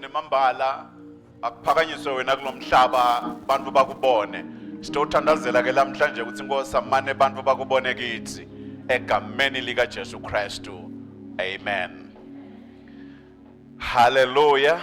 nemambala akuphakanyiswe wena kulomhlaba abantu bakubone sitothandazela ke lamhlanje ukuthi inkosi amane abantu bakubone kithi egameni lika Jesu Kristu amen haleluya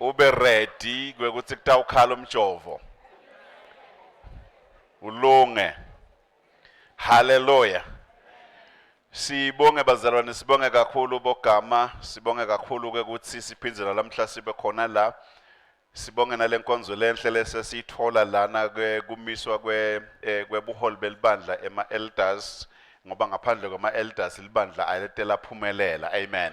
ube ready kwekuthi kutawukhala umjovo ulunge haleluya sibonge bazalwane sibonge kakhulu bogama sibonge kakhulu ke ukuthi siphindze nalamhla sibe khona la sibonge nalenkonzo lenhle lesesithola lana ke kumiswa kwe eh, kwebuholi belibandla ema elders ngoba ngaphandle kwama elders libandla aletela phumelela amen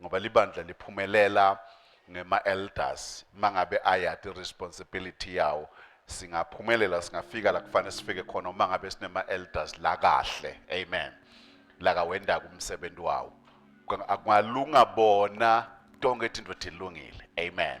ngoba libandla liphumelela ngema elders mangabe ayati responsibility yawo singaphumelela singafika la kufanele sifike khona uma ngabe sinema elders la kahle amen la kawenda kumsebenzi wawo akungalunga bona tonke izinto thilungile amen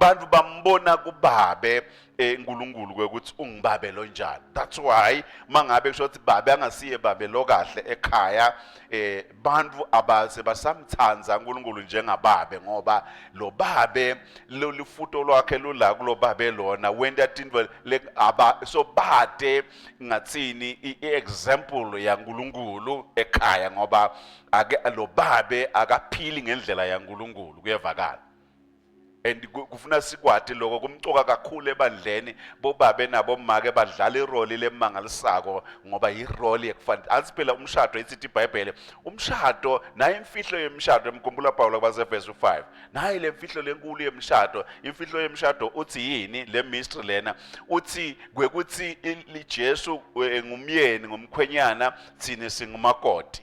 bantu bambona kubabe eh, uNkulunkulu ukuthi ungibabe lo njani that's why mangabe kusho ukuthi babe angasiye babe lo kahle ekhaya eh bantu abase basamthanda uNkulunkulu njengababe ngoba lo babe lolifuto lwakhe lula kulo babe lona wenda tinto le aba so bade ngathini iexample yaNkulunkulu ekhaya ngoba ake lo babe akaphili ngendlela yaNkulunkulu kuyevakala and kufuna sikwati loko kumcoka kakhulu ebandleni bobabe nabo make badlala iroli lemangalisako ngoba iroli ekufanele athi phela umshado isithi iBhayibheli umshado naye imfihlo yemshado emkhumbula Paulo kwaseverse 5 naye lemfihlo lenkulu yemshado imfihlo yemshado uthi yini le mystery lena uthi kwekuthi liJesu e, ngumyeni ngumkhwenyana thina singumakoti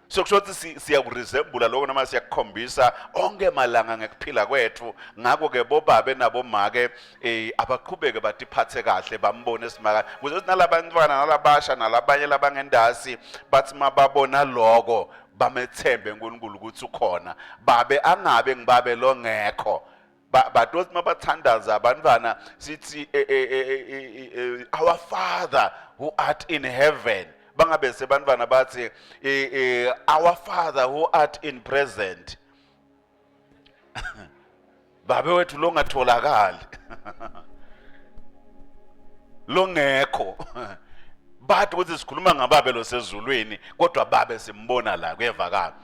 so kusho ukuthi siyakuresembula lokho noma siyakukhombisa onke malanga ngekuphila kwethu ngakho ke bobabe nabomake eh abaqhubeke batiphathe kahle bambone simaka kuze ukuthi nalabantwana nalabasha nalabanye labangendasi bathi mababona lokho bamethembe uNkulunkulu ukuthi ukhona babe angabe ngibabe longekho but othi mabathandaza abantwana sithi eh, eh, eh, our father who art in heaven bangabe sebantwana bathi our father who art in present babe wethu longatholakali longekho bathi ukuthi sikhuluma ngababe losezulwini kodwa babe simbona la kuyevakala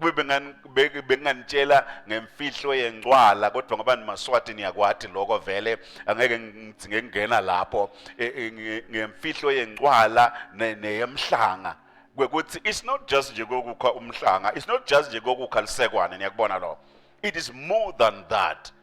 kube benginganitshela ngemfihlo yengcwala kodwa ngoba nimaswati niyakwati lokho vele angeke ngidzinge kungena lapho e, e, ngemfihlo yengcwala neyemhlanga kwekuthi it's not just nje kokukha umhlanga it's not just nje kokukha lisekwane niyakubona lo it is more than that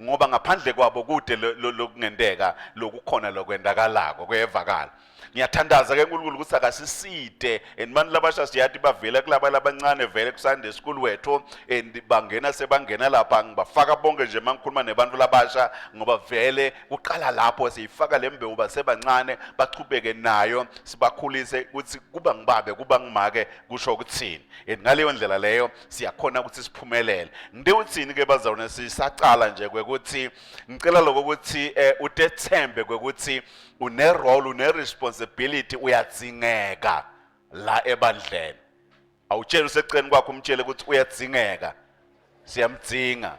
ngoba ngaphandle kwabo kude lokungenteka lokukhona lokwendakalako kuyevakala ngiyathandaza ke nkulunkulu ukuthi akasiside and mani labasha siyathi bavela kulaba labancane vele kusande school wethu and bangena sebangena lapha ngibafaka bonke nje uma ngikhuluma nebantu labasha ngoba vele kuqala lapho siyifaka le mbewu basebancane bachubeke nayo sibakhulise ukuthi kuba ngibabe kuba ngimake kusho ukuthini and ngaleyo ndlela leyo siyakhona ukuthi siphumelele ngide uthini ke bazalwane sisaqala nje kwekuthi ngicela lokho ukuthi eh, utethembe kwekuthi une role une responsibility uyadzingeka la ebandleni awutshela useqeni kwakho umtshele ukuthi uyadzingeka siyamdzinga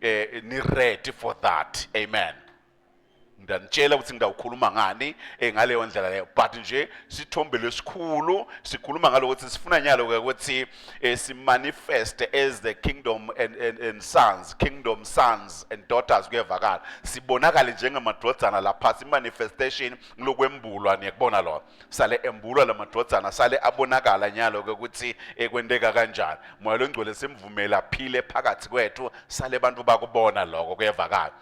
eh ni ready for that amen ngiyanitshela ukuthi ngidawukhuluma ngani eh, ngaleyo ndlela leyo but nje sithombe lesikhulu sikhuluma ngalokuthi sifuna nyalo ke ukuthi eh, simanifest as the kingdom and, and, and sons kingdom sons and daughters kuyevakala sibonakale njengamadodana lapha simanifestation ngilokwembulwa niyakubona lona sale embulwa la madvodzana sale abonakala nyalo-ke ukuthi ekwenteka kanjani moya longcwele simvumele aphile phakathi kwethu sale bantu bakubona loko kuyevakala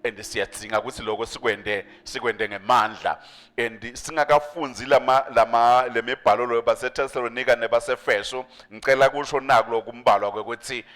and siyadzinga ukuthi loko sikwende sikwende ngemandla and singakafunzi lama lama lemibhalo loyo baseThessalonika nebasefeso ngicela kusho naku lokumbalwa ukuthi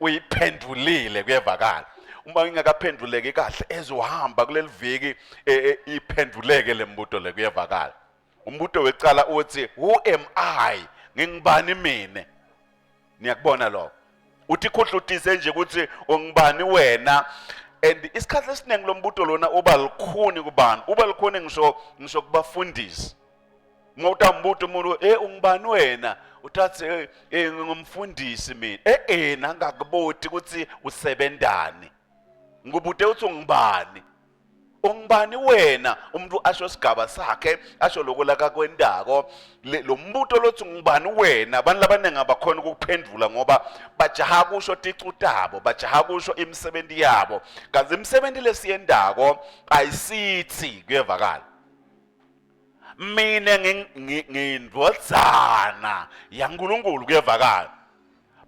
uyiphendulile kuyevakala uma ingakaphenduleki kahle ezohamba kuleli viki e, e, iphenduleke le mbuto le kuyevakala umbuto wecala uthi who am i ngingibani mina niyakubona lokho uthi khuhlutise nje ukuthi ungibani wena and isikhathi esiningi lombuto lona uba likhuni kubani uba likhuni ngisho ngisho kubafundisi uma utambuta umuntu eh ungubani wena uthathe eh, eh ngingumfundisi mina eh eh nangakuboti ukuthi usebenzani ngikubute uthi ungubani ungubani wena umuntu asho isigaba sakhe asho lokho lakakwendako lo mbuto lothi ngubani wena abantu labaningi abakhona ukuphendula ngoba bajaha kusho ticu tabo bajaha kusho imisebenzi yabo kanti imisebenzi lesiyendako ayisithi kuyevakala mina ngiyindvodzana yankulunkulu kuyevakala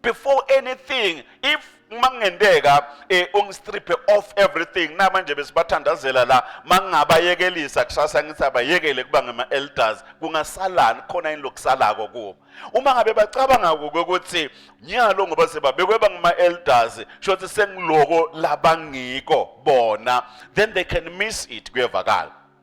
before anything if uma kungenteka um eh, ungistriphe off everything namanje besibathandazela la uma ngingabayekelisa kusasa ngithi abayekele kuba ngama-elders kungasalani khona yini lokusalako kubo uma ngabe bacabanga kuke ukuthi nyalo ngoba sebabekwe bangama-elders sho ukuthi sengiloko labangiko bona then they can miss it kuyevakala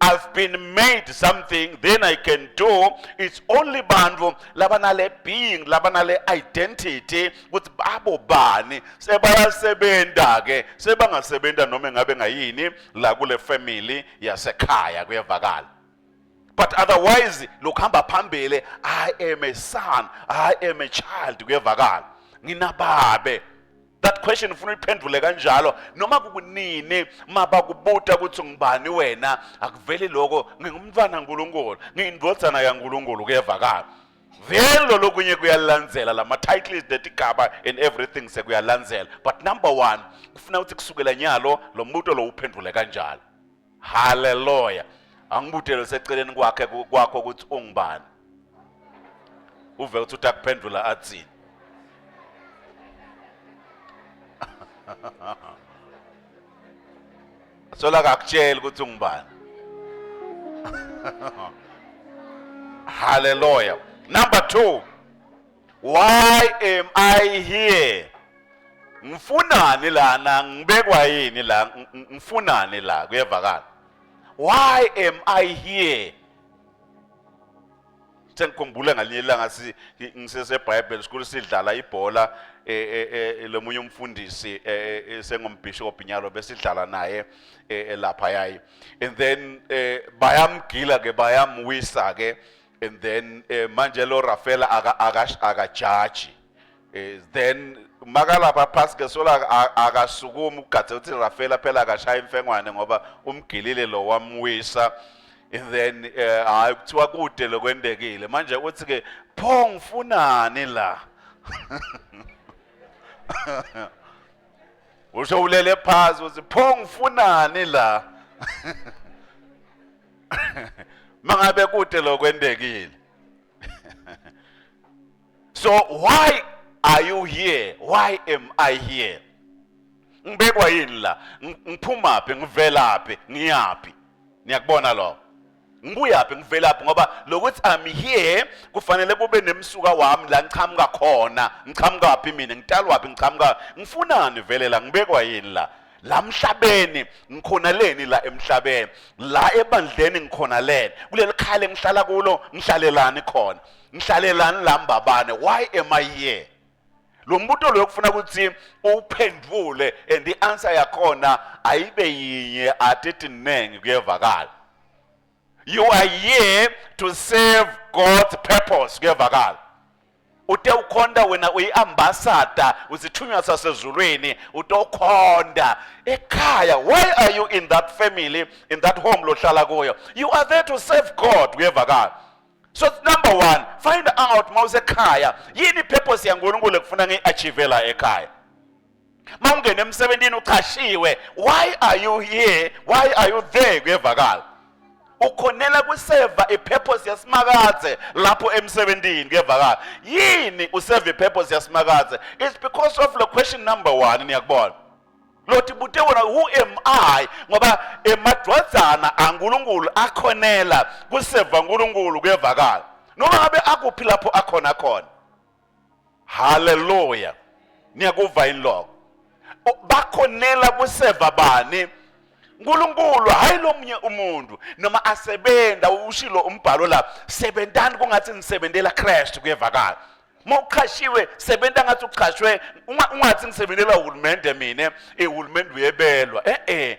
I've been made something then I can do it's only bantu labanale being labanale identity ukuthi babo bani sebayasebenza ke sebangasebenza noma ngabe ngayini la kule family yasekhaya kuyevakala but otherwise lokuhamba phambili I am a son I am a child kuyevakala nginababe that question ufuna uyiphendule kanjalo noma kukunini mabakubuta ukuthi ngubani wena akuveli lokho ngingumntwana kaNkuluNkulu ngiyindvodzana kaNkuluNkulu kuyevakala then lo lokunye kuyalandzela lama titles netigaba and everything sekuyalandzela but number 1 kufuna ukuthi kusukela nyalo lo mbuto lo uphendule kanjalo haleluya angibudele seceleni kwakhe kwakho ukuthi ungubani uve ukuthi utakuphendula athini sola kakutshela ukuthi ungubani haleluya number 2 Why am I here? Ngifunani lana ngibekwa yini la ngifunani la kuyevakala. Why am I here? Sengikhumbula ngalinye ilanga si ngisese Bible school sidlala ibhola e, e, e, lomunye umfundisi sengumbishop nyalo besidlala naye elapha yayi and then bayamgila ke bayamwisa ke and then eh, manje lo Rafaela aka aka aka judge eh, then makalapha phansi ngesola aka- akasukumi ugadze uthi Rafaela phela akashaya imfengwane ngoba umgilile lo wamwisa and then eh, hayi kuthiwa kude lokwendekile manje uthi ke pho ngifunani la usho ulele phansi uthi pho ngifunani la mangabe kude lokwendekile so why are you here why am i here ngibekwa yini la ngiphumaphi ngivelaphi ngiyaphi niyakubona lokho ngibuyaphi ngivelaphi ngoba lokuthi i'm here kufanele kube nemsuka wami la ngichamuka khona ngichamuka phi mina ngitalwa phi ngichamuka ngifunani vele la ngibekwa yini la la mhlabeni ngikhona leni la emhlabeni la ebandleni ngikhona leni kuleli khaya lengihlala kulo ngihlalelani khona ngihlalelani la mbabane why am i here lo mbuto loyo kufuna ukuthi uphendvule and i-answer yakhona ayibe yinye atethi ningi kuyevakala you are here to serve god's purpose kuyevakala ute ukhonda wena uyiambassador uzithunywa sasezulwini ute ukhonda ekhaya why are you in that family in that home lohlala kuyo you are there to serve god uyevakala so number one find out uma usekhaya yini ipurpose yankulunkulu ekufuna ngiyi-achivela ekhaya mawungena emsebenzini uchashiwe why are you here why are you there kuyevakala ukhonela kuseva ipurpose yasimakaze lapho emsebenzini kuyevakala yini useva ipurpose yasimakaze it's because of the question number 1 niyakubona lothi bute wona who am i ngoba emadwadzana ankulunkulu akhonela kuseva nkulunkulu kuyevakala noma ngabe akuphi lapho akhona khona haleluya niyakuva yini lokho bakhonela kuseva bani uNkulunkulu hayi lomunye umuntu noma asebenza ushilo umbhalo la sebenzani kungathi nisebenzela Christ kuyevakala mawuqhashiwe sebenza ngathi uqhashwe ungathi ngisebenzela uhulumende mina ehulumende uyebelwa eh eh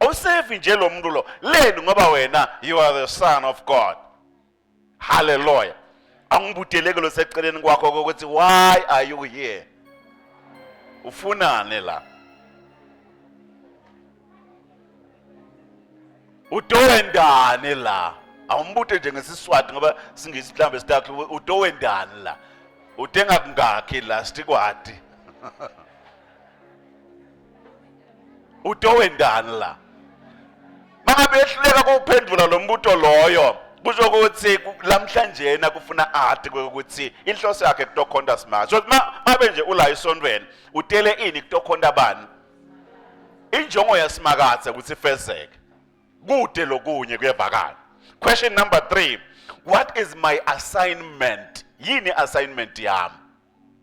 awusevi nje lo muntu lo leni ngoba wena you are the son of god halleluya angibudeleke lo seceleni kwakho kokuthi why are you here ufunane la utowendane la awumbute nje ngesiswati ngoba singisi mhlawumbe sitakhe utowendane la utenga kungakhi la stikwati utowendani la mabehluleka kuwuphendula lo mbuto loyo kusho ukuthi lamhlanje kufuna athi ukuthi inhloso yakhe kutokhonta smart so mabe nje ula isontweni utele ini kutokhonta bani injongo yasimakathe ukuthi ifezeke kude lokunye kuyevakala question number 3 what is my assignment yini assignment yami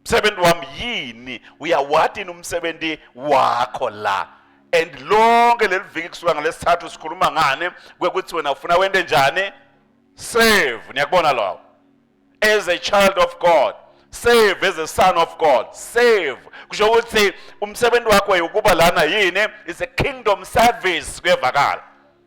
msebenzi wami yini uyawati yini umsebenzi wakho la and lonke leli viki kusuka ngalesithathu sikhuluma ngani kwekuthi wena ufuna wente njani save niyakubona lokho as a child of god save as a son of god save kusho ukuthi umsebenzi wakho yokuba lana yini is a kingdom service kuyevakala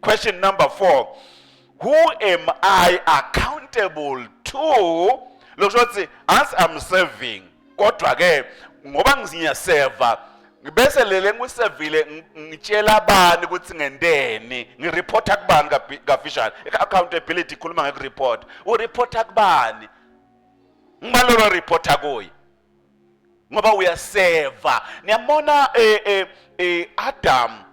Question number four. Who am I accountable to? Lokusho ukuthi as I'm serving kodwa ke ngoba ngiziyaseva ngibese lele ngisevile ngitshela abani ukuthi ngenteni ngireporta kubani kafishane i-accountability ikhuluma ngekureport ureporta kubani ngibalolo reporta kuye ngoba uyaseva niyabona eh eh, eh Adam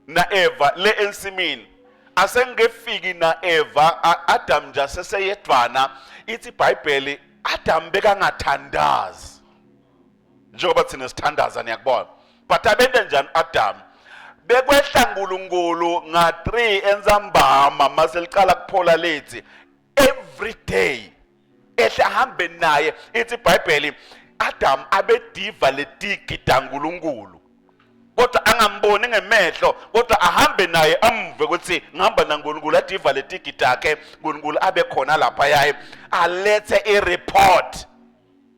na Eva le ensimini asengekefiki na Eva Adam nje seseyedwana ithi iBhayibheli Adam bekangathandazi njengoba thina sithandaza niyakubona but abende njani Adam bekwehla uNkulunkulu nga 3 entsambama maseliqala kuphola lethi every day ehle ahambe naye ithi ibhayibheli Adam abediva letigi dankulunkulu kodwa angamboni ngemehlo kodwa ahambe naye amve ukuthi ngihamba naNkulunkulu adiva letigi takhe uNkulunkulu abe khona lapha yaye alethe ireport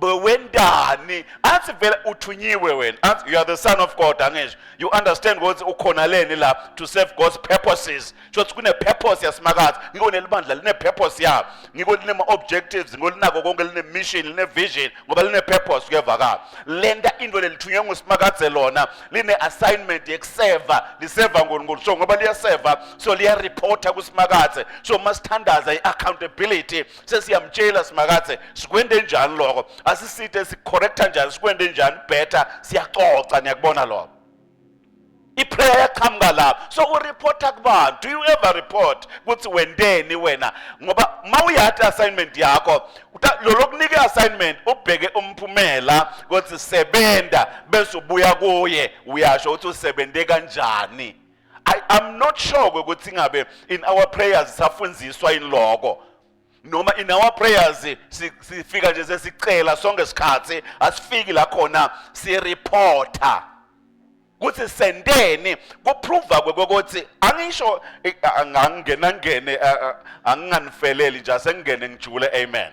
wendani athi vele uthunyiwe wena athi you are the son of god angisho you understand ukuthi ukhona leni la to serve god's purposes shothi kune purpose yasimakathi ngiko nelibandla line purpose yabo ngiko line ma objectives ngiko linako konke line mission line vision ngoba line purpose kuyevakala lenta into lelithunywe ngusimakadze lona line assignment yekuseva liseva ngoni ngoni so ngoba liyaseva so liyareporta kusimakadze so masithandaza i accountability sesiyamtshela simakathe sikwende njani lokho asiside sicorrecta njani sikwende njani better siyaxoxa niyakubona lokho iprayer yaqhamuka lapho so ureporta kubani do you ever report ukuthi wenteni wena ngoba uma uyati assignment yakho lolokunike assignment ubheke umphumela ukuthi sebenza bese ubuya kuye uyasho ukuthi usebenze kanjani I am not sure ukuthi ngabe in our prayers safundiswa in lokho noma in our prayers sifika nje sesicela sonke isikhathi asifiki la khona si reporter kuthi sendeni kuprova kwekokuthi angisho eh, angangena ngene eh, eh, anginganifeleli nje asengene ngijule amen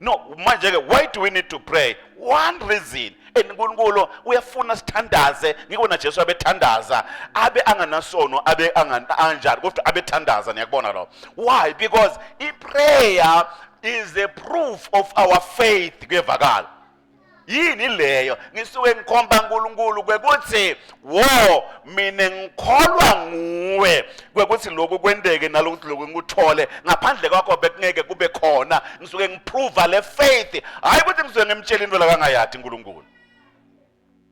no manje ke why do we need to pray one reason and uNkulunkulu uyafuna sithandaze ngiko na Jesu abethandaza abe anganasono abe anganjani kodwa abethandaza niyakubona lo why because i prayer is a proof of our faith kuyevakala yini leyo ngisuke ngikhomba uNkulunkulu kwekuthi wo mina ngikholwa nguwe kwekuthi lokhu kwendeke nalokuthi lokhu ngikuthole ngaphandle kwakho bekungeke kube khona ngisuke ngiprova le faith hayi ukuthi ngisuke ngimtshela into la kangayathi uNkulunkulu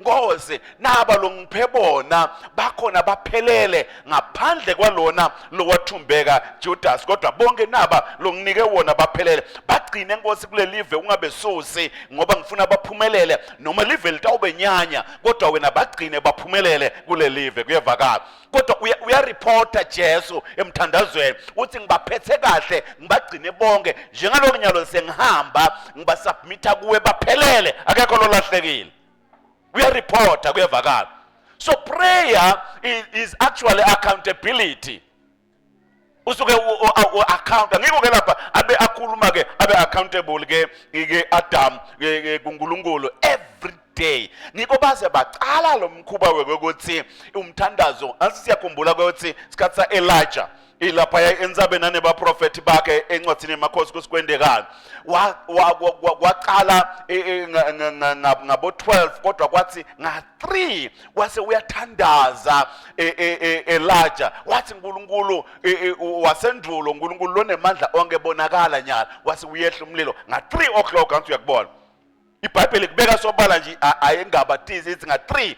ngoze naba longiphe bona bakhona baphelele ngaphandle kwalona lowathumbeka Judas kodwa bonke naba longinike wona baphelele bagcine nkosi kulelive ungabesusi ngoba ngifuna baphumelele noma live litawubenyanya kodwa wena bagcine baphumelele kulelive kuyevakala kodwa uyareporta Jesu emthandazweni uthi ngibaphethe kahle ngibagcine bonke njengaloku nyalo sengihamba ngibasubmita kuwe baphelele akekho lolahlekile uyareporta kuyevakala so prayer is actually accountability usuke u-akhawunta ngiko ke lapha abe akhuluma ke abe accountable ke ke Adam ke kuNkulunkulu every day ngiko baze baqala lo mkhuba wekokuthi umthandazo asiyakhumbula ukuthi sikhathi sa Elijah ilapha yayenzabe nane baprofeti bakhe encwadini yemakhosi kusikwendekani waqala e, e, ngabo-12 kodwa kwathi nga-3 wase uyathandaza e, e, e, elaja wathi nkulunkulu wasendulo nkulunkulu lonemandla onke bonakala nyala wase uyehla umlilo nga-three o'clock angithi uyakubona ibhayibheli kubeka sobala nje ayengabatizi ithi nga-three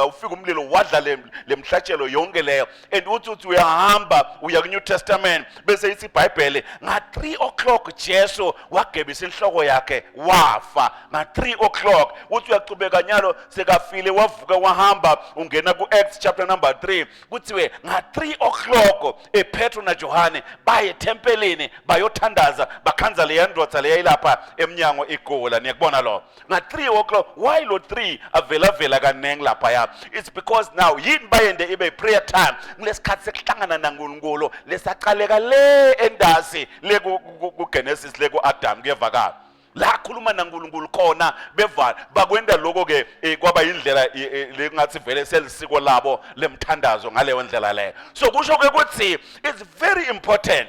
ufika umlilo wadla le mhlatshelo yonke leyo and uthi uthi uyahamba uya ku-new testament bese ithi ibhayibhele nga-three o'clock jesu wagebisa inhloko yakhe wafa nga-three o'clock uthi uyachubeka nyalo sekafile wavuka wahamba ungena ku-acts chapter number 3 kuthiwe nga-three o'clock epetro najohane baye ethempelini bayothandaza bakhanza leya ndoda leyayilapha emnyango igula niyakubona lo nga-three o'clock why lo three avelavela kaningi laphaya it's because now yini bayende ibe prayer time kulesikhathi sekuhlangana nankulunkulu lesaqaleka le endasi le kugenesis le ku-adam kuyevakala la khuluma nankulunkulu khona bevala bakwenda lokho ke eh, kwaba yindlela eh, eh, lekungathi vele selisiko labo lemthandazo ngaleyo ndlela leyo so kusho ke ukuthi it's very important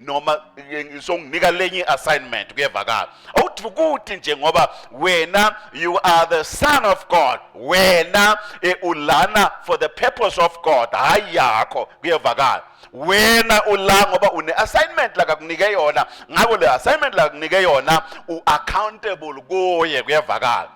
noma ngizonginika lenye assignment kuyevakala awuthi ukuthi nje ngoba wena you are the son of god wena e, ulana for the purpose of god hayi yakho kuyevakala wena ula ngoba une assignment la kakunike yona ngako le assignment la kakunike yona u accountable kuye kuyevakala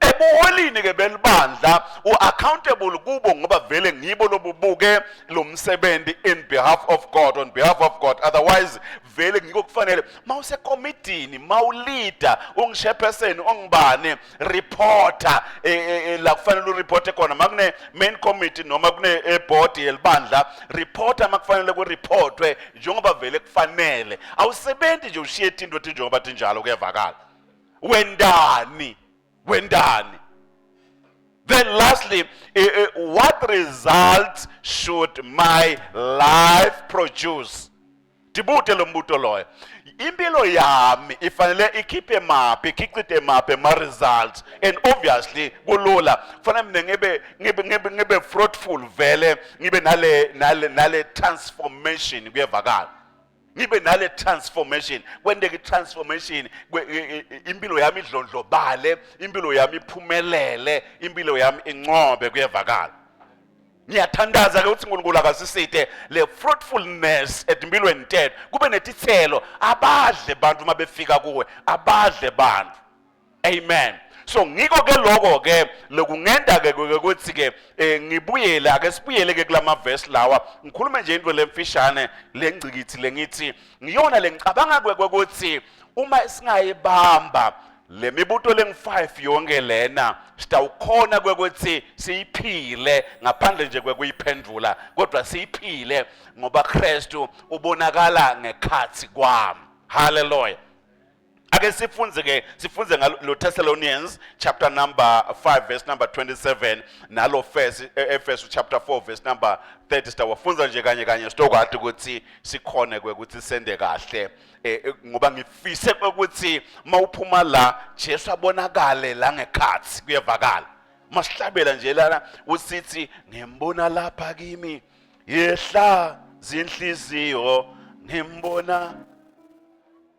ebuholini ke belibandla uaccountable kubo ngoba vele ngibo lobubuke lo msebenzi in behalf of God on behalf of God otherwise vele ngiko kufanele mawuse committee mawuleader ungishepheseni ongibane reporter e, e, e, la kufanele ureporte khona makune main committee noma kune e, board yelibandla reporter makufanele ku reportwe njengoba vele kufanele awusebenzi nje ushiye into ethi njengoba tinjalo kuyavakala wendani wendani then lastly eh, eh, what results should my life produce ndibude lo mbuto loyo impilo yami ifanele ikhiphe maphi ikhichithe maphi ama-results and obviously kulula kufanele mina ngibe ngibe ngibe ngibe fruitful vele ngibe nale nale nale transformation kuyevakala ngibe nale transformation kwenteke transformation impilo yami idlondlobale impilo yami iphumelele impilo yami incobe kuyevakala ngiyathandaza ke ukuthi uNkulunkulu akasisithe le fruitfulness empilweni tethu kube netithelo abadle abantu uma befika kuwe abadle abantu amen so ngiko ke lokho ke lokungenda ke ukuthi ke eh, ngibuyele ake sibuyele ke kulama verse lawa ngikhulume nje into lemfishane lengcikithi lengithi ngiyona lengicabanga ukuthi uma singayibamba lemibuto lengu-5 yonke lena sitawukhona kwekuthi siyiphile ngaphandle nje kwekuyiphendvula kodwa siyiphile ngoba Kristu ubonakala ngekhathi kwami haleluya ake sifunze ke sifunze ngalo Thessalonians chapter number 5 verse number 27 nalo first e, Efesu chapter 4 verse number 30 sitawafunza nje kanye kanye sitokwathi ukuthi sikhone kwe ukuthi sende kahle e, e, ngoba ngifise ukuthi mawuphuma la Jesu abonakale la ngekhathi kuyevakala masihlabela nje lana usithi ngembona lapha kimi yehla zinhliziyo ngembona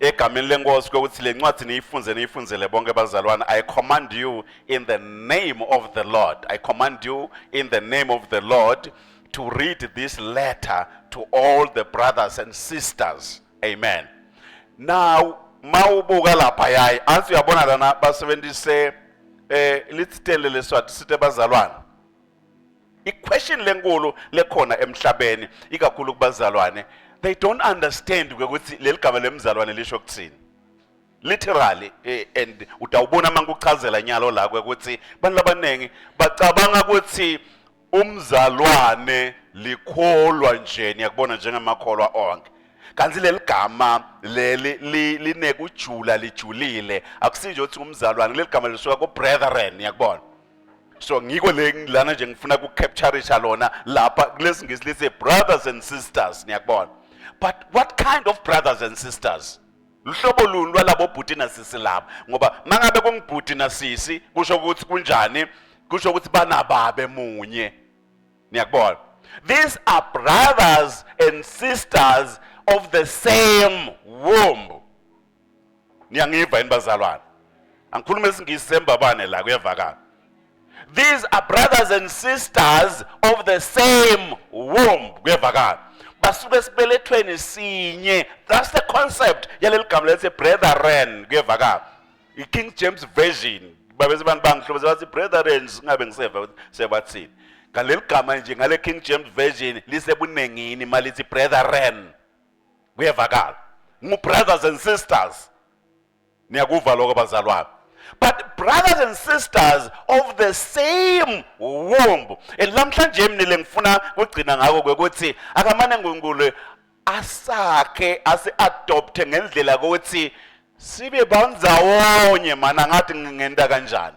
egameni lenkosi kokuthi le ncwadi niyifunze niyifunzele bonke bazalwane i command you in the name of the lord i command you in the name of the lord to read this letter to all the brothers and sisters amen now mawubuka lapha yayi athi uyabona lana basebenzise eh lithitele leswati sithe bazalwane iquestion lenkulu lekhona emhlabeni ikakhulu kubazalwane they don't understand ukuthi leli gama lemzalwane lisho kuthini literally eh, and utawubona uma ngikuchazela nyalo la ukuthi abantu abaningi bacabanga ukuthi umzalwane likholwa nje niyakubona njengamakholwa onke kanti leli gama leli linekujula lijulile akusinje ukuthi umzalwane leli gama lisuka ku-brethren yakubona so ngikho le lana nje ngifuna ku captureisha lona lapha kulesi ngisi lise brothers and sisters niyakubona but what kind of brothers and sisters luhlobo luni lwalabo bhuti nasisi laba ngoba mangabe kungibhuti nasisi kusho ukuthi kunjani kusho ukuthi banababe munye niyakubona these are brothers and sisters of the same womb niyangiva yini bazalwane angikhuluma isingisi sembabane la kuyevakala these are brothers and sisters of the same womb kuyevakala basuke esibelethweni sinye that's the concept yaleli gama lethe brethren kuyevakala i-king james version babese abantu bangihlobeza bathi brethren singabe ngiseva sebathini ngaleli gama nje ngale king james version lisebunengini malithi brethren kuyevakala ngu-brothers and sisters niyakuva lokho bazalwane but brothers and sisters of the same womb and lamhlanje mina lengifuna kugcina ngako kwekuthi akamane ngunkulu asakhe asi-adopthe ngendlela kokuthi sibe bandzawonye mana ngathi ngingenta kanjani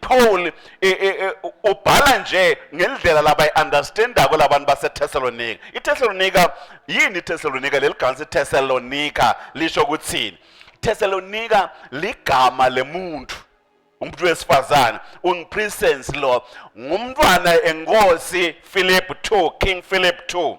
Paul e, e, e, ubhala nje ngendlela labayi-understandako labantu baseThesalonika. IThesalonika yini iThesalonika? Leli gama siThesalonika lisho ukuthini? Thesalonika ligama lemuntu umuntu wesifazane unguPrinsensi lo ngumntwana enkosi Philip 2 King Philip 2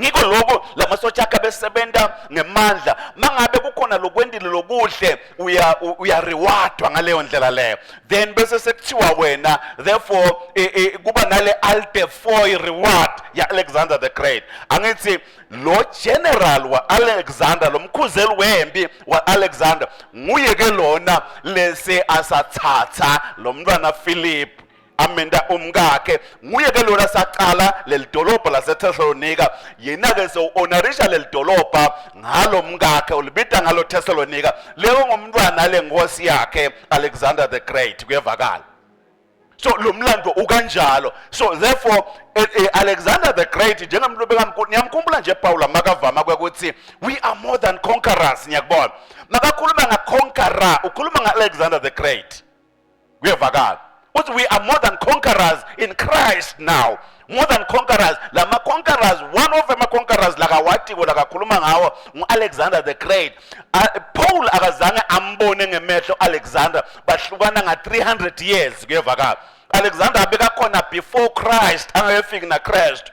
ngiko lokho lamasotsha akhe abesebenza ngemandla mangabe kukhona lokwendile lokuhle uya uya rewardwa ngaleyo ndlela leyo then bese sekuthiwa wena therefore e, e, kuba nale alte foy reward ya Alexander the Great angithi lo general wa Alexander lomkhuzeli wempi wa Alexander nguye ke lona lese asathatha lomntwana Philip amenda umkakhe nguye ke lona saqala lelidolobha laseThessalonika yena ke so onarisha lelidolobha ngalo mkakhe ulibita ngalo Thessalonika leyo ngomntwana lenkosi yakhe Alexander the Great kuyevakala so lo mlando ukanjalo so therefore eh, eh, alexander the great njengamntu bekamkhulu niyamkhumbula nje pawula makavama kwekuthi we are more than conquerors niyakubona makakhuluma ngaconqueror ukhuluma nga-alexander the great kuyevakala uthi we are more than conquerors in christ now more than conquerors la ma-conquerors one of ama-conquerors lakawatiko lakakhuluma ngawo ngu-alexander the great paul akazange ambone ngemehlo alexander bahlukana nga-300 years kuyevakala alexander abekakhona before christ angakefiki nakristu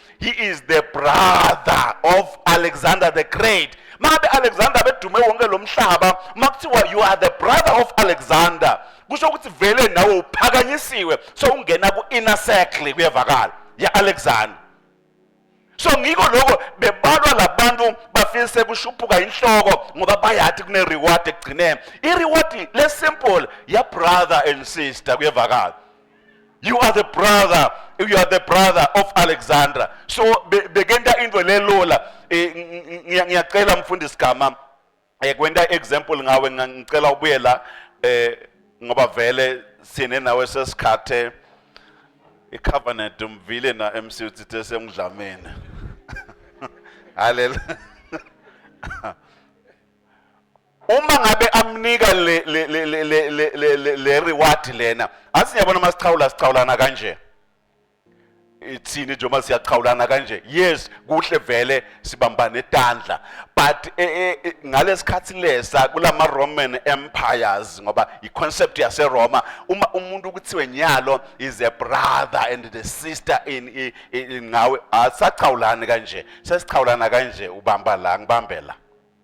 he is the brother of alexander the great mabe alexander bedume wonke lo mhlaba makuthiwa you are the brother of alexander kusho ukuthi vele nawe uphakanyisiwe so ungena ku-inner circle kuyevakala ya-alexander so ngiko lokho bebalwa labantu bafile sekushuphuka inhloko ngoba bayathi kune-reward ekugcineni i-reward le-simple ya-brother and sister kuyevakala you are the brother you are the brother of alexandra so bekenta be into lelola eh, ngiyacela mfundisi gama um eh, kwenta i-example ngawe ngicela ubuye la um ngoba vele sine nawe sesikhathe icovenant umvile na MC uthithe semdlameni haleluya uma ngabe amnika le le le le le le le le reward lena athi niyabona uma sichawula sichawulana kanje ithini nje uma siyachawulana kanje yes kuhle vele sibambane etandla but e, e, e, ngalesikhathi lesa kulama Roman empires ngoba i concept yase Roma uma umuntu kuthiwe nyalo is a brother and the sister in ngawe asachawulani kanje sesichawulana kanje ubamba la ngibambela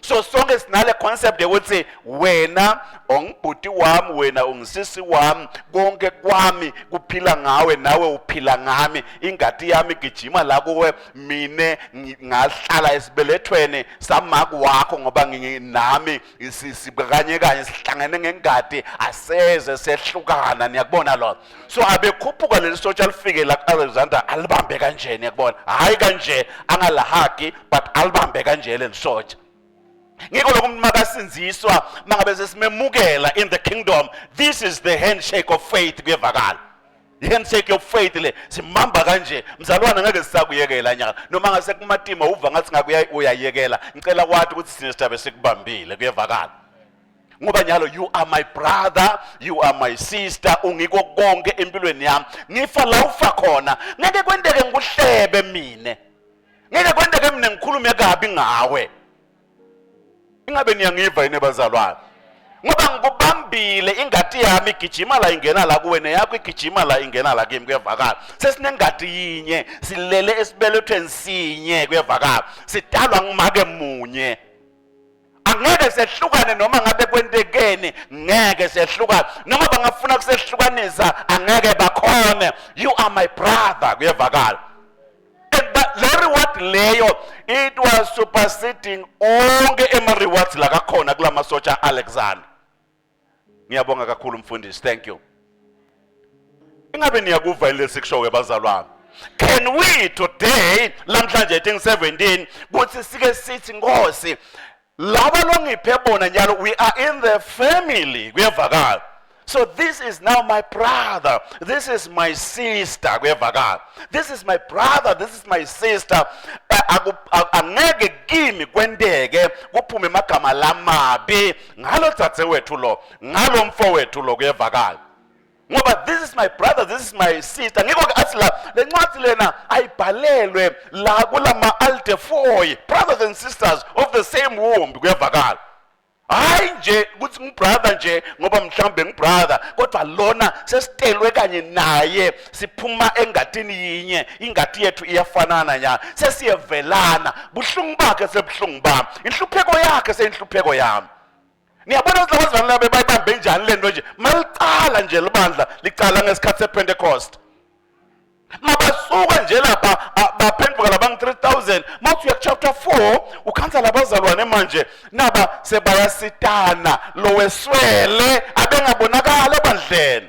so sonke sinale concept yokuthi wena ongibhuti wami wena ungisisi wami konke kwami kuphila ngawe nawe uphila ngami ingadi yami gijima la kuwe mine ngahlala esibelethweni samaki wakho ngoba nginami sibakanye kanye sihlangene ngengadi aseze sehlukana niyakubona lona so abekhuphuka leli sotsha alifike la ku-alexander alibambe kanjeni yakubona hhayi kanje angalahagi but alibambe kanje leli sotsha ngikho lokho umuntu makasinziswa mangabe sesimemukela in the kingdom this is the handshake of faith kuyevakala i-handshake of faith le simamba kanje mzalwana ngeke sisakuyekela nyaka noma ngase kumatima uva ngathi ngakuya uyayekela ngicela wathi ukuthi sine sithabe sikubambile kuyevakala ngoba nyalo you are my brother you are my sister ungiko konke empilweni yami ngifa la ufa khona ngeke kwenteke ngikuhlebe mina ngeke kwenteke mina ngikhulume kabi ngawe ingabe niyangiva yini bazalwane ngoba ngikubambile ingati yami igijima la ingena la kuwe neyakho igijima la ingena la kimi kuyevakala sesinengati yinye silele esibelethweni sinye kuyevakala sidalwa ngumake munye angeke sehlukane noma ngabe kwentekeni ngeke sehlukane noma bangafuna kusehlukanisa angeke bakhone you are my brother kuyevakala and but le reward leyo it was superseding onke ema rewards la kakhona kulamasotsha alexander Ngiyabonga kakhulu mfundisi. Thank you. Ingabe niyakuva yini lesikushoyo bazalwane? Can we today lamhlanje 17 kuthi sike sithi Nkosi laba longiphe bona njalo we are in the family kuyevakala so this is now my brother this is my sister kuyevakala this is my brother this is my sister angeke kimi kwenteke kuphume amagama lamabi ngalo dzadzewethu lo ngalo mfowethu lo kuyevakala ngoba this is my brother this is my sister ngikho ke athi la le ncwadi lena ayibhalelwe la kulama aldefoy brothers and sisters of the same womb kuyevakala hayi nje ukuthi ngibrother nje ngoba mhlawumbe ngibrother kodwa lona sesitelwe kanye naye siphuma engatini yinye ingati yethu iyafanana nyana sesiyevelana buhlungu bakhe sebuhlungu bami inhlupheko yakhe seyinhlupheko yami niyabona ukuthi laba zivana labe bayibambe njani le nto nje malicala nje libandla licala ngesikhathi sepentecost mabasuka nje lapha baphenduka labangu 3000 mawuthi uya chapter 4 ukhansa labazalwane manje naba sebayasitana loweswele abengabonakala ebandleni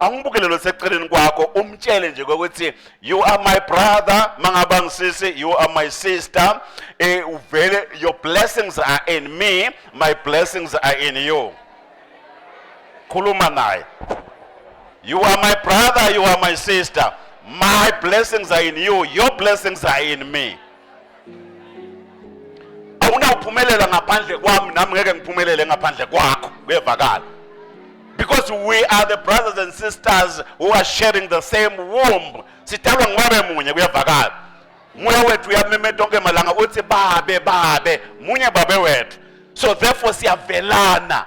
angibukele lo seceleni kwakho umtshele nje kokuthi you are my brother mangaba ngisisi you are my sister eh uvele your blessings are in me my blessings are in you khuluma naye you are my brother you are my sister my blessings are in you your blessings are in me awunawuphumelela ngaphandle kwami nami ngeke ngiphumelele ngaphandle kwakho kuyevakala because we are the brothers and sisters who are sharing the same womb sidalwa ngobe munye kuyevakala moya wethu uyamemeta onke malanga uthi babe babe munye babe wethu so therefore siyavelana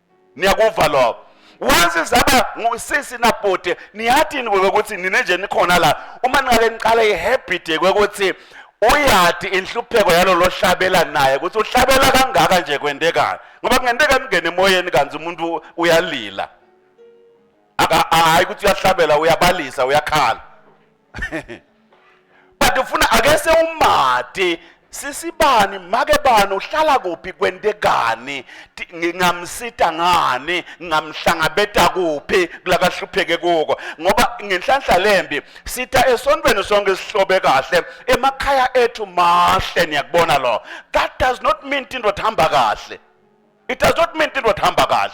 niyakuva lokho once zaba ngusisi nabhuti niyathini ukuthi nine nje nikhona la uma ningake niqale ihabit kwekuthi uyati inhlupheko yalolo hlabela naye ukuthi uhlabela kangaka nje kwendekayo ngoba kungenteka ningene emoyeni kanti umuntu uyalila hayi ukuthi uyahlabela uyabalisa uyakhala but ufuna ake sewumati sisibani make bani uhlala kuphi kwentekani ngingamsita ngani ngingamhlangabeta kuphi kulakahlupheke kuko ngoba ngenhlanhla lembi sitha esontweni sonke sihlobe kahle emakhaya ethu mahle niyakubona lo that does not mean into hamba kahle it does not mean into hamba kahle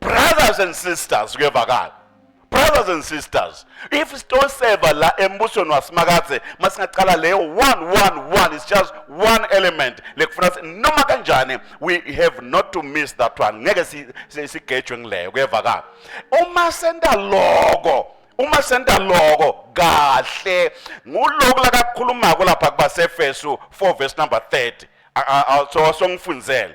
brothers and sisters kuyevakala brothers and sisters if sitoseva la embusweni wasimakadze masingaqala leyo 111 is just one element lekufuna noma kanjani we have not to miss that one ngeke sigejwe ngileyo kuyevakala uma senta loko uma senta loko kahle nguloko lakakhulumako lapha kubasefesu 4 verse number 30 so songifundzele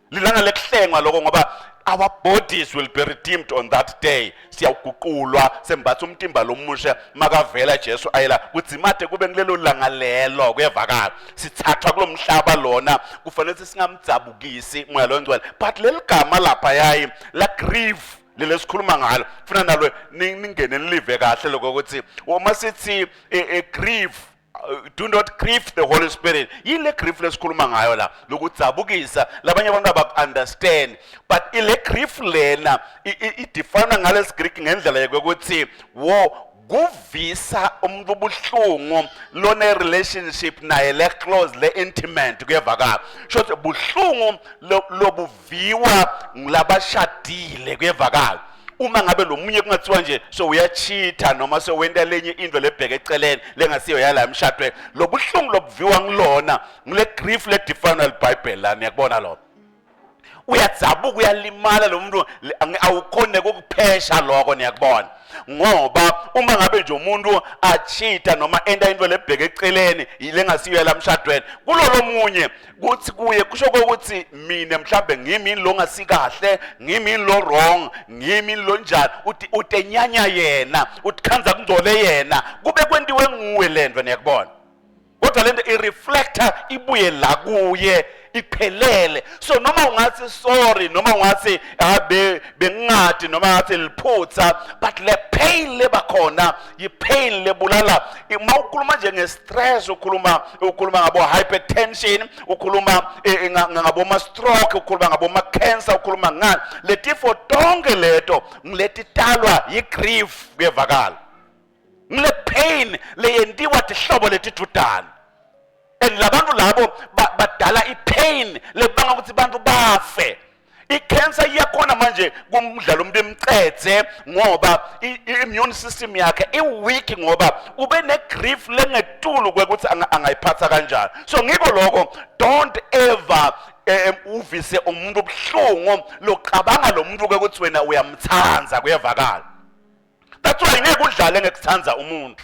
lilanga lekuhlengwa loko ngoba our bodies will be redeemed on that day siyaguqulwa sembatha umtimba lomusha makavela Jesu ayela kudzimade kube kulelo langa lelo kuyevakala sithathwa kulomhlaba lona kufanele singamdzabukisi moya longcwele but leligama lapha yayi la grieve leli esikhuluma ngalo funa nalo ningene nilive kahle lokho ukuthi uma sithi e, e grieve Uh, do not grieve the holy spirit yini le grief lesikhuluma ngayo la lokudzabukisa labanye abantu abaku-understand but ile grief lena idifana ngalesi greek ngendlela yokuthi wo kuvisa umuntu ubuhlungu lone relationship naye le close le intimate kuyevakala shothi buhlungu lobu viwa ngilabashadile kuyevakala uma ngabe lo munye kungathiwa nje so uyachitha noma so wenta lenye into lebheke eceleni lengasiyo yala emshadweni lobuhlungu lobuviwa ngilona ngile grief le define libhayibheli la niyakubona lo uyadzabuka uyalimala lo muntu awukhone ukuphesha lokho niyakubona ngoba uma ngabe nje umuntu achitha noma enta into lebheke eceleni lengasiyo yala mshadweni kulolo munye kuthi kuye kusho ukuthi mina mhlambe ngimi lo ngasikahle ngimi lo wrong ngimi lo njani uthi utenyanya yena uthikhanza kungcole yena kube kwentiwe nguwe lento niyakubona kodwa lento i reflector ibuye la kuye iphelele so noma ungathi sorry noma ungathi ah, bengingadi noma ngathi liphutha but le pain lebakhona yipain lebulala uma ukhuluma nje nge-stress ukhuluma ukhuluma ngabo-hypertension ukhuluma eh, eh, ngaboma-stroke ukhuluma ngaboma-cancer ukhuluma ngani letifo tonke leto ngiletitalwa yi-grief kuyevakala ngile-pain leyentiwa tihlobo letidudane and labantu labo badala ipain lebanga ukuthi bantu bafe ikhensa iyakhona manje kumdlalo umuntu imcethe ngoba i-immune system yakhe i-weak ngoba ube ne-grief lengetulu kwekuthi angayiphatha kanjani so ngiko lokho don't ever um uvise umuntu ubuhlungu loqabanga lo muntu ke ukuthi wena uyamthanda kuyevakala that's why ngeke udlale ngekuthanda umuntu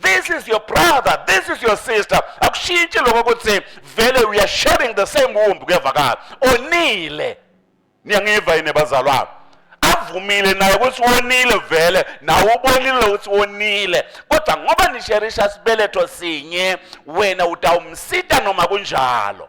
this is your brother this is your sister akushintshi lokho ukuthi vele we are sharing the same womb kuyavakala onile niyangiva yini bazalwane avumile naye ukuthi wonile vele nawe ubonile ukuthi wonile kodwa ngoba nisherisha sibeletho sinye wena utawumsita noma kunjalo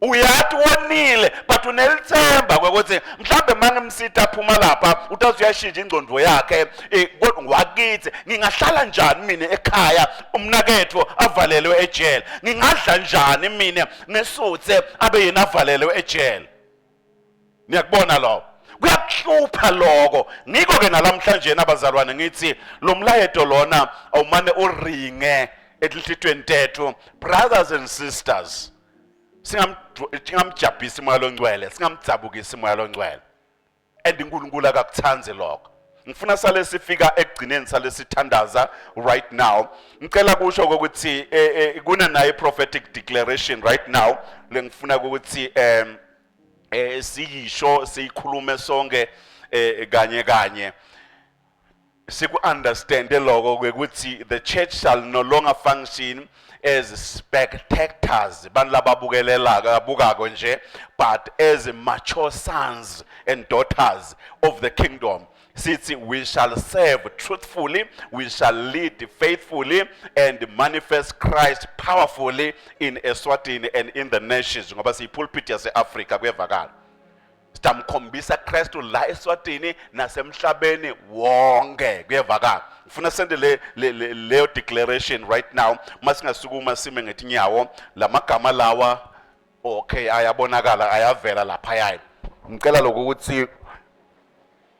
uyati wonile but unelitsemba kwekutsi mhlawumbe uma ngimsita aphuma lapha utazi uyashintsha ingcondvo yakhe eh, kodwa ngwakitsi ngingahlala njani mina ekhaya umnaketho avalelwe ejele ngingadla njani mina ngesutse abe yena avalelwe ejele niyakubona lokho kuyakuhlupha lokho ngikho ke nalamhlanje nabazalwane ngithi lo mlayeto lona awumane uringe etinhlitweni tethu brothers and sisters singamjabhisi imoya longcwele singamdzabukisi imoya longcwele and uNkulunkulu akakuthandi lokho ngifuna sale sifika ekugcineni sale sithandaza right now ngicela kusho ukuthi eh, eh, kuna naye prophetic declaration right now lengifuna ukuthi um eh siyisho siyikhulume sonke eh, kanye kanye siku understand lokho ukuthi the church shall no longer function as spectators bantu lababukelelaka abukako nje but as mature sons and daughters of the kingdom sithi we shall serve truthfully we shall lead faithfully and manifest Christ powerfully in Eswatini and in the nations ngoba siyipulpit yase-Africa kuyevakala sidamkhombisa Kristu la eSwatini nasemhlabeni wonke kuyevakala ngifuna sende le leyo declaration right now masingasukuma sime ngetinyawo lamagama lawa okay ayabonakala ayavela lapha yayi ngicela lokuthi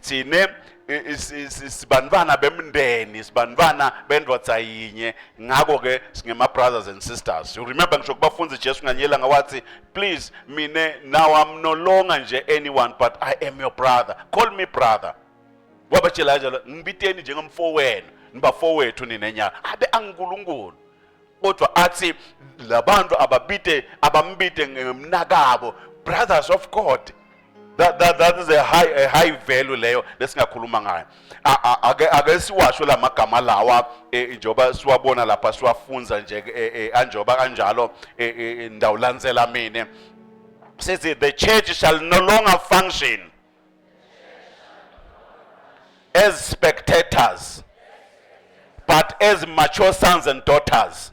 thine sibanibana bemndeni sibanibana bendoda yinye ngakho ke singema brothers and sisters you remember ngisho kubafunzi Jesu nganyela ngawathi please mina now I'm no longer nje anyone but I am your brother call me brother wabatshela kanjalo ngibiteni njengomfowenu nibafowethu nina nyaka abe anginkulunkulu kodwa athi labantu ababite abambite ngemnakabo brothers of God that, that, that is a high, a high value leyo lesingakhuluma ngayo ake ake siwasho la magama lawa eh, njengoba siwabona lapha siwafunza nje eh, eh, anjengoba kanjalo ndawulandzela mina says the church shall no longer function as spectators but as mature sons and daughters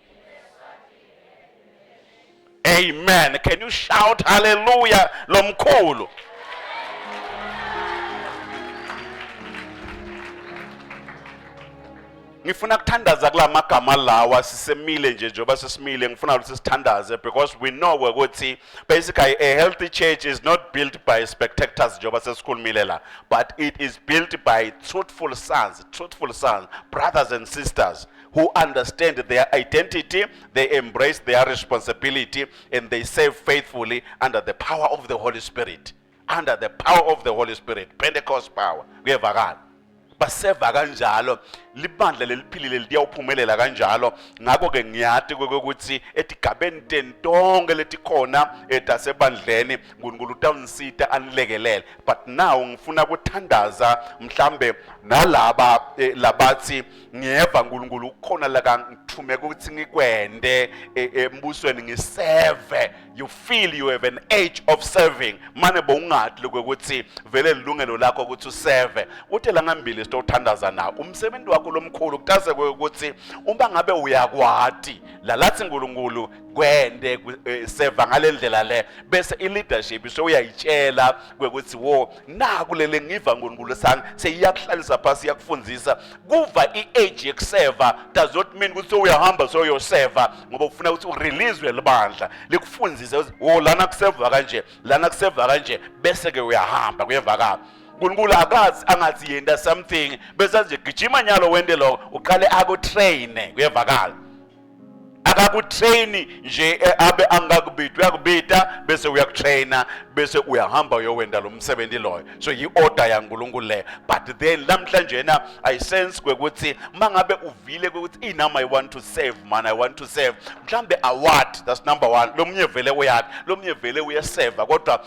Amen. Can you shout hallelujah lomkhulu? ngifuna kuthandaza kula magama lawa sisemile nje njengoba sesimile ngifuna ukuthi sithandaze because we know ukuthi basically a healthy church is not built by spectators njengoba sesikhulumile la but it is built by truthful sons truthful sons brothers and sisters who understand their identity, they embrace their responsibility, and they serve faithfully under the power of the Holy Spirit. Under the power of the Holy Spirit, Pentecost power. Kuyevakala. baseva kanjalo libandla leliphilile liyawuphumelela kanjalo ngakho-ke ngiyati kwekokuthi etigabeni teni tonke letikhona etasebandleni eh, nkulunkulu utawunisita anilekelele but now ngifuna kuthandaza mhlambe nalaba eh, labathi ngiyeva nkulunkulu kukhona la kangithumeka ukuthi ngikwende e, embusweni ngiseve you feel you have an age of serving mane bowungadi lokho ukuthi vele lilungelo lakho ukuthi useve uthe la ngambili sitothandaza na umsebenzi wakho lomkhulu kutase ukuthi uma ngabe uyakwati la lathi nkulunkulu kwende e, seva ngalendlela le bese i leadership sewuyayitshela ukuthi wo naku lele ngiva nkulunkulu sami seyiyakuhlalisa phasi iyakufundzisa kuva i-age yekuseva does not mean ukuthi sowuyahamba soyoseva ngoba ufuna ukuthi urelizwe libandla likufundise ukuthi wo oh, lana kuseva kanje lana kuseva kanje bese-ke uyahamba kuyevakala unkulunkulu akazi angathi yenta something besathi nje gijima nyalo wente loko uqale akutrayine kuyevakala akakutraini nje eh, abe angakubidi uyakubida bese uyakutraina bese uyahamba uyowenda lo msebenzi loyo so yi-order yankulunkulu leyo but then namhlanje yena i sense kwekuthi uma ngabe uvile kwekuthi inami i want to save man i want to save mhlawumbe award that's number one lo munye vele uyakhe lo munye vele uyeseva kodwa